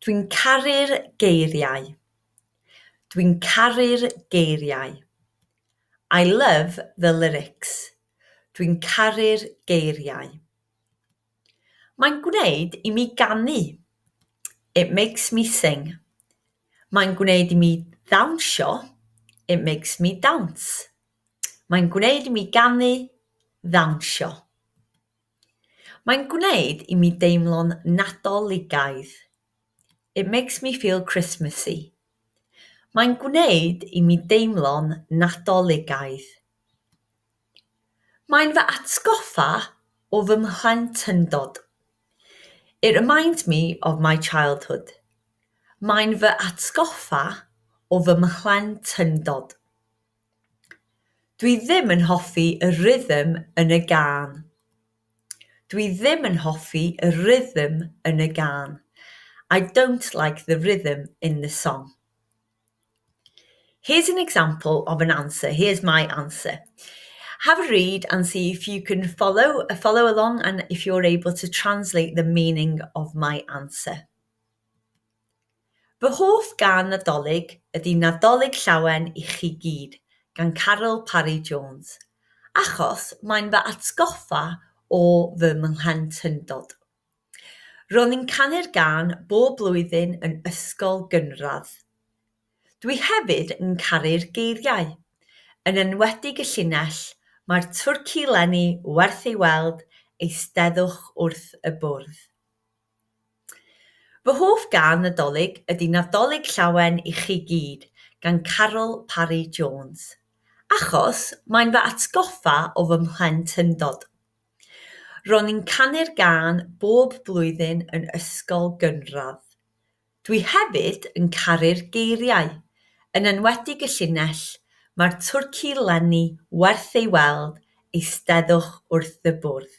Dwi'n caru'r geiriau. Dwi'n caru'r geiriau. I love the lyrics. Dwi'n caru'r geiriau. Mae'n gwneud i mi ganu. It makes me sing. Mae'n gwneud i mi ddawnsio. It makes me dance. Mae'n gwneud i mi ganu, ddawnsio. Mae'n gwneud i mi deimlo'n Nadoligaidd. It makes me feel Christmassy. Mae'n gwneud i mi deimlo'n Nadoligaidd. Mae'n fy atgoffa o fy mhlentyndod. It reminds me of my childhood. Mae'n fy atgoffa o fy mhlentyndod. Dwi ddim yn hoffi y rhythm yn y gân. Dwi ddim yn hoffi y rhythm yn y gân. I don't like the rhythm in the song. Here's an example of an answer, here's my answer. Have a read and see if you can follow uh, follow along and if you're able to translate the meaning of my answer. Fy hoff gân Nadolig ydy Nadolig Llawen i chi gyd gan Caryl Parry Jones, achos mae'n fy atgoffa o fy mhlentyndod. Ro'n i'n canu'r gân bob blwyddyn yn ysgol gynradd. Dwi hefyd yn caru'r geiriau, yn enwedig y llinell 'Mae'r twrci 'leni werth ei weld, eisteddwch wrth y bwrdd'. Fy hoff gân Nadolig ydy 'Nadolig Llawen i chi gyd' gan Caryl Parry Jones, achos mae'n fy atgoffa o fy mhlentyndod. Ro'n i'n canu'r gân bob blwyddyn yn ysgol gynradd. Dwi hefyd yn caru'r geiriau, yn enwedig y llinell 'Mae'r twrci 'leni werth ei weld, eisteddwch wrth y bwrdd'.